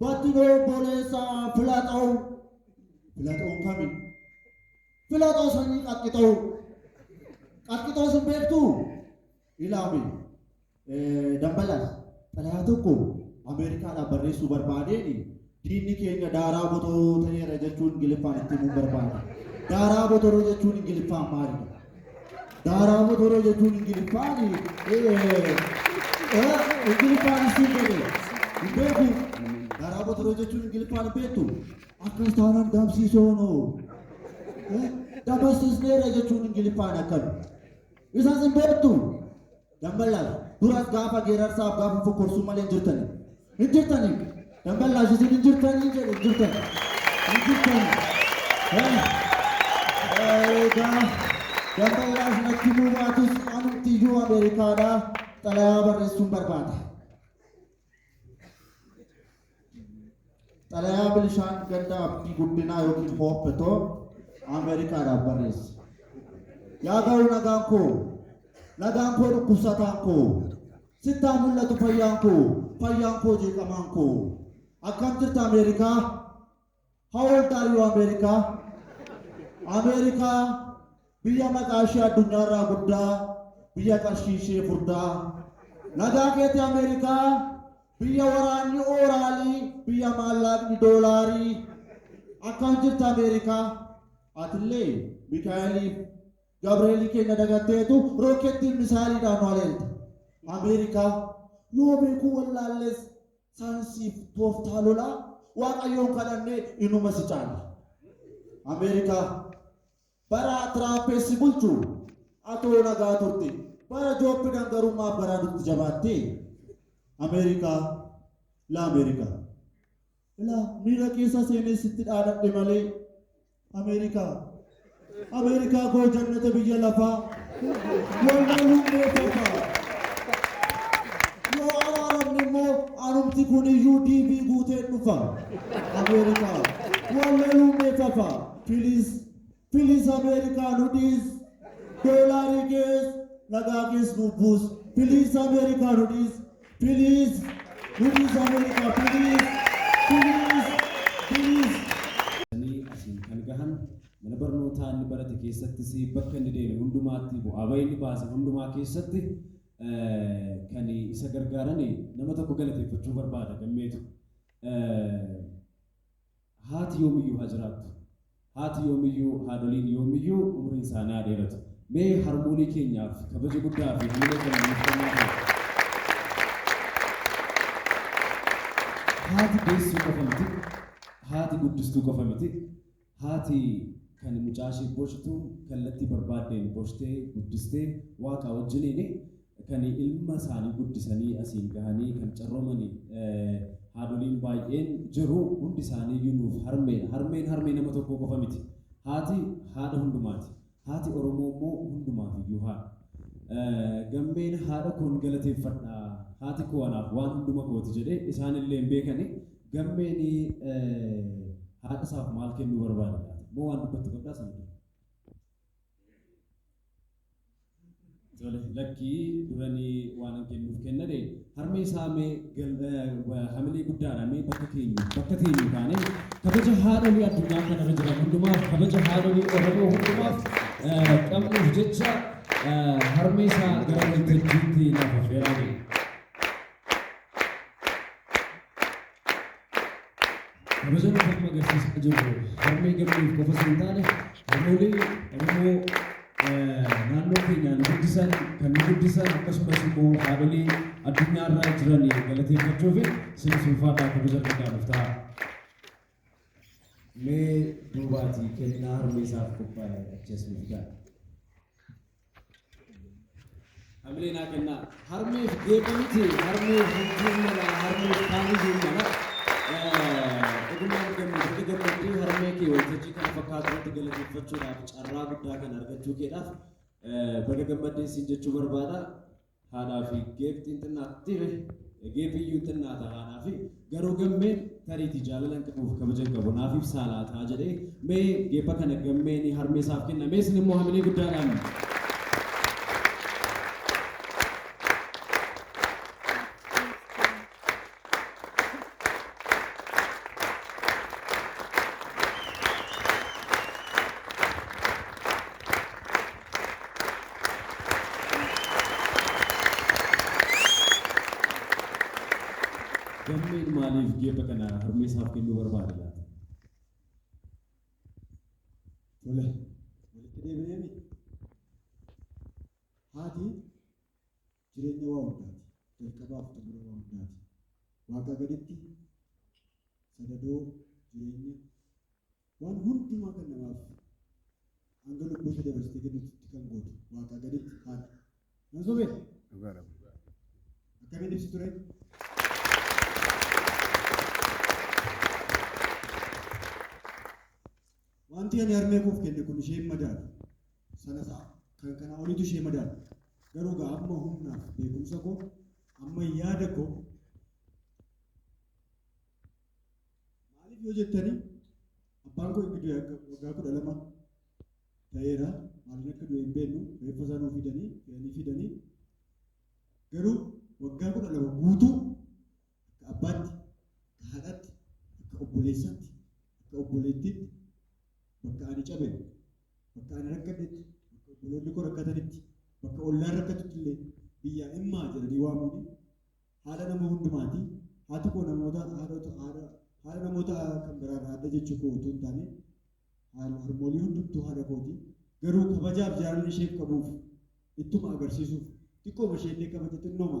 Battinoo obboleessaa Filaxoon. Filaxoon kami? Filaxoo sanyii qaxqixoo. Qaxqixoo sin beektuu? Ilaami. Eh, Dambalaas, xalayaa tokko Ameerikaadhaaf barreessuu barbaadeeni diinni keenya daaraa botoroo ta'eera jechuun Ingiliffaan itti himuu barbaade. Daaraa botoroo jechuun Ingiliffaan maalidha? Daaraa motoroo jechuun ingiliffaan ingiliffaan isin jedhe hin beeku daaraa motoroo jechuun ingiliffaan hin beektu akkas taanaan dabsiisoonoo dabarsisneera jechuun ingiliffaan akkami isas hin beektu Damballaash, dura gaafa geerarsaaf gaafa fokkorsuu malee hin jirtani. Hin jirtani. Damballaash isin hin jirtani jedhe hin jirtani. Hin jirtani. Egaa damballaash natti himuu baatus anumtiyyuu Ameerikaadhaa xalayaa barreessuun barbaada. Xalayaa Bilishaan Ganda Abdii Guddinaa yookiin Hoopetoo Ameerikaadhaaf barreesse. Yaa ga'u nagaan koo, nagaan koo dhukkubsataan koo, sittaa mul'atu fayyaan koo, fayyaan koo jeeqamaan koo. Akkam jirta Ameerikaa? How old are you America? Ameerikaa biyya maqaa ishee addunyaa irraa guddaa, biyya qarshii ishee furdaa. Nagaa keeti Ameerikaa biyya waraanni ooraalii, biyya maallaaqni doolaarii. Akkam jirta Ameerikaa? Atillee Mikaa'eliif Gabreelii keenya dagatteetu rookkeettiin misaayiliidhaan nu haleelta. Ameerikaa yoo beekuu wallaalles Saayinsiif tooftaa lolaa Waaqayyoon kadhannee inuma si caala. Ameerikaa bara Tiraampessi bulchu atoo nagaa turte bara Joobbidan garuu maaf garaa nutti jabaattee? Ameerikaa la Ameerikaa. Ilaa miira keessa seenee sitti dhaadadhe malee Ameerikaa. Ameerikaa koo jannata biyya lafaa. Wallaaluun beekama. Yoo araaramne immoo anumti kun iyyuu DV guuteen dhufa. Ameerikaa. Wallaaluun beekama. Filis. Filis Ameerikaa nu dhiis. Doolaarii kees. Nagaa kees nu buus. Filis Ameerikaa nu dhiis. Please nuti isa mul'isa please please please. Sanii asiin kan gahan mana barnootaa inni barate keessattis bakka inni deeme hundumaatti bu'aa bahii inni baase hundumaa keessatti kan isa gargaaran nama tokko galateeffachuu barbaada gammeetu. Haati yoomiyyuu haa jiraattu. Haati yoomiyyuu, haadholiin yoomiyyuu umriin isaanii haa dheeratu. Mee harmoolii keenyaaf kabaja guddaa fi hamilee keenya nuuf kennaa ture. Haati deessuu qofa miti, haati guddistuu qofa miti, haati kan mucaa ishee boshtu kallattii barbaaddeen boshtee guddistee waaqaa wajjiniin kan ilma isaanii guddisanii asiin gahanii kan carroomani haadholiin baay'een jiru. Hundi isaaniiyyuu nuuf harmeedha. Harmeen harmee nama tokkoo qofa miti. Haati haadha hundumaati. Haati Oromoo immoo hundumaafiyyuu haadha. Gammeen haadha koon galateeffadha. Haati koo anaaf waan hunduma kooti jedhee isaanillee hin beekani. Gammeen haadha isaaf maal kennuu barbaada laata? Moo waan dubbattu qabdaa sana dura? Joolet lakkii duranii waan hin kennuuf kennade harmee isaa mee gal- eh, wa- hamilee guddaadha mee bakka keenya bakka keenya taanee kabaja haadholii addunyaa kanarra jiran hundumaaf kabaja haadholii Oromoo hundumaaf eh, qabnuuf jecha eh, harmee isaa gara waltajjiitti lafa fe'aa jira. Kabajaan amma agarsiisaa jirru harmee gammeef qofa osoo hin taane harmoolee Oromoo naannoo keenya nu guddisan, kan nu guddisan akkasumas immoo haadholii addunyaa irra jiran galateeffachuufi isinis ulfaadhaa kabaja guddaa nuuf ta'aa. Mee duubaatii kennaa harmee isaaf qophaa'e achi as nu fidaa. Hamilee naa kennaa. Harmeef geepha miti. Harmeef bultiin mala. Harmeef kaaniyyuun mala. Dhugumaan gammachuutti gammadduu harmee kee waltajjii kana fakkaatu irratti galateeffachuudhaaf carraa guddaa kana argachuu keedhaaf baga gammaddeen siin jechuu barbaada. Haadhaa fi Geeb xinxinnaat tire Geeb iyyuu xinnaata haadhaa fi Garuu Gammeen tariiti jaalalan qabuuf kabajan qabu naaf ibsaa laataa jedhee mee Geeba kana Gammeen harmee isaaf kenna mee isin immoo hamilee guddaadhaan Gammeen maaliif geepha kana harmee isaaf kennuu barbaade laata? Tole, walitti deebineemi. Haati Jireenya waa hundaati. Jalqabaa fi xumura waa hundaati. Waaqaa gaditti sadadoo jireenya waan hundumaa kan namaaf hanga lubbuu ishee dabarsitee kennutti kan gootu waaqaa gaditti haadha. Nan sobee? Dhugaadha. Akkamiin ibsi ture? Wanti ani harmee koof kenne kun isheen madaala. sana ta'a. Kan kana oliitu ishee madaala. Garuu egaa amma humnaaf beekumsa koo amma yaada koo maaliif yoo jettanii abbaan koo inni du'e akka waggaa kudha lama ta'eera maaliin akka du'e hin beeknu reeffa isaa nuu fidanii fe'anii fidanii garuu waggaa kudha lama guutuu akka abbaatti akka haadhaatti akka obboleessaatti akka obboleettiitti bakka ani cabe bakka ani rakkadhetti, bakka obboloonni koo rakkatanitti, bakka ollaan rakkatutti illee biyyaa immaa jedhanii waamuuni haadha nama hundumaati. Haati koo namoota haadhota haadha haadha namoota kan biraa irraa adda jechuu koo utuu hin taane haal- harmoolii hundumtuu haadha kooti. Garuu kabajaaf jaalala isheef qabuuf ittuma agarsiisuuf xiqqooma ishee illee kabaja xinnooma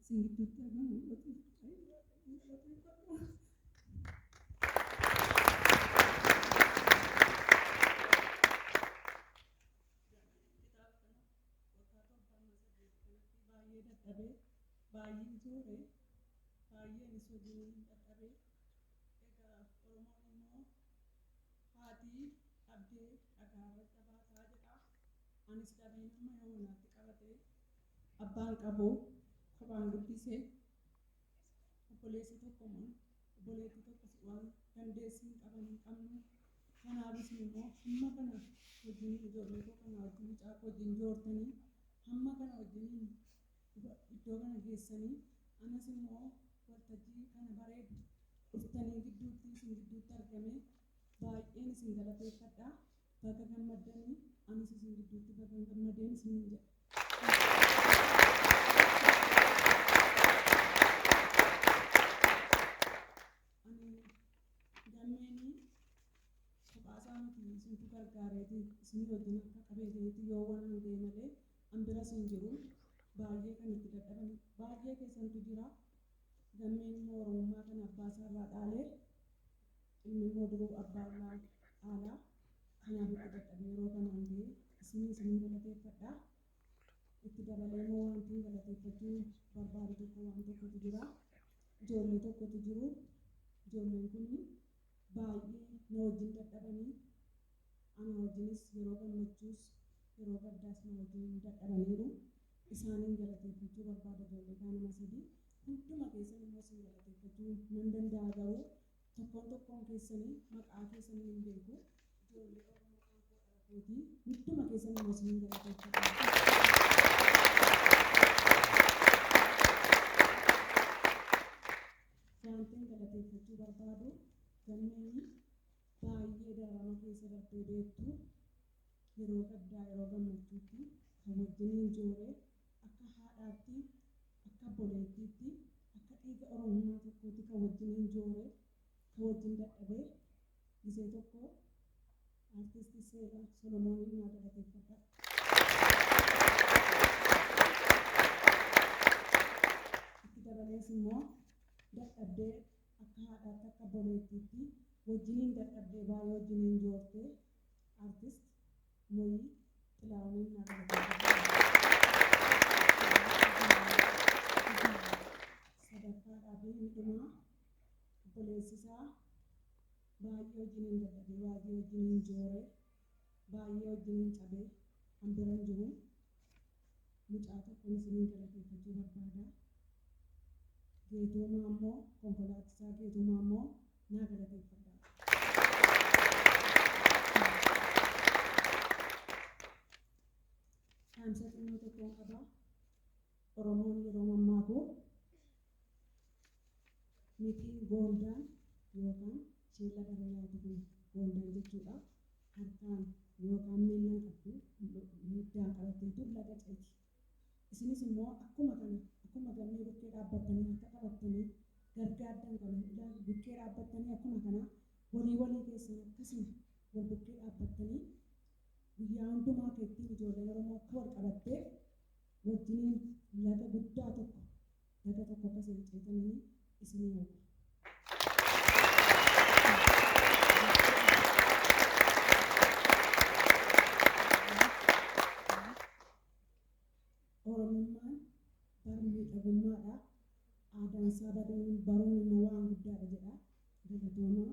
isin gidduutti argamu mul'atuuf baay'ee waaqayyoon galateeffadha. baay'ee dadhabee baay'een joore baay'een isa wajjin dadhabee egaa oromoon immoo haatii dhabdee dhagaarra dhabaataa jedha anis dhabiin amma yoo naatti qabatee Abbaan qabu kophaan guddise. Obboleessa tokko moo obboleettii tokkos waan dandeessu hin qaban hin qabnu. Kanaaf isin immoo hamma kana wajjiniin ijoollee koo kana wajjin mucaa koo wajjin joortanii hamma kana wajjiniin iddoo kana geessanii anas immoo waltajjii kana bareeddu dhuftanii gidduutti isin gidduutti argamee baay'een isin galateeffadha. Baga gammaddani anis isin gidduutti bagan gammadeen isiniin jedha. Ani gammeeni kophaa isaa miti isintu gargaareeti isinii wajjin akka qabeetinitti yoo waan hin ta'e malee an biras hin jiru baay'ee kan itti dadhaban baay'ee keessantu jira gammeen immoo oromummaa kana abbaa isaa irraa dhaalee Inni immoo duruu abbaa ilmaa dhaalaa kanaa du'uu dadhabe yeroo kanaan ga'e isinii isinin galateeffadha. Itti dabalee immoo wantiin galateeffachuu barbaadu tokko waan tokkotu jira. Ijoollee tokkotu jiru. Ijoolleen kun baay'ee na wajjin dadhabanii anaa wajjinis yeroo gammachuus yeroo gaddaas na wajjin dadhabaniiru. Isaaniin galateeffachuu barbaada ijoollee kaa nama sadii. Hunduma keessan immoo isin galateeffachuu nan danda'a garuu Tokkoon tokkoon keessani maqaa keessaniin hin beeku. Ijoollee Oromoo aankoo dhala kooti. Hunduma keessanuu na isiniin galateeffadha. Wantin galateeffachuu barbaadu gammeen baay'ee dararama keessa dartee beektu yeroo gaddaa yeroo gammachuutti kan wajjiniin joore Akka haadhaatti, akka obboleettiitti, akka dhiiga Oromummaa tokkootti kan wajjiniin joore, kan wajjin dadhabe, gisee tokko Artisti Seela Solomooniin naa galateeffadhaa. Itti dabalees immoo dadhabdee akka haadhaatti, akka obboleettiitti wajjiniin dadhabdee baay'ee wajjiniin joortee Artist. Moyi Xilaahuniin naa galateeffadhu. Sadarkaadhaa fi midhumaa obboleessi isaa baay'ee wajjiniin dadhabee, baay'ee wajjiniin jooree, baay'ee wajjiniin cabee an bira hin jiru. mucaa tokkon isinin galateeffachuu barbaada Geetoo Maammoo konkolaatisaa Geetoo Maammoo naa galateeffadhaa. Dhaamsa xinnoo tokkon qaba Oromoon yeroo mammaaku. Nitiin Goondaan yookaan sheella dharra yaatu kun Goondaan jechuudha. Harkaan yookaan miillan qabdu hiddaan qabattee dur laga ceeti. Isinis immoo akkuma kana akkuma gammee bukkee dhaabbattanii harka qabattanii gargaaddan kana ilaali bukkee dhaabbattanii akkuma kana walii walii keessan akkasuma wal bukkee dhaabbattanii guyyaa hundumaa akka ittiin ijoolleen Oromoo akka wal qabattee wajjiniin laga guddaa tokko daga tokko akka isin ceetanini isinii hawwa. Oromummaan bara miidhagummaadha. Aadaan isaa baduun baruun immoo waan guddaadha jedha. Galatoomaa.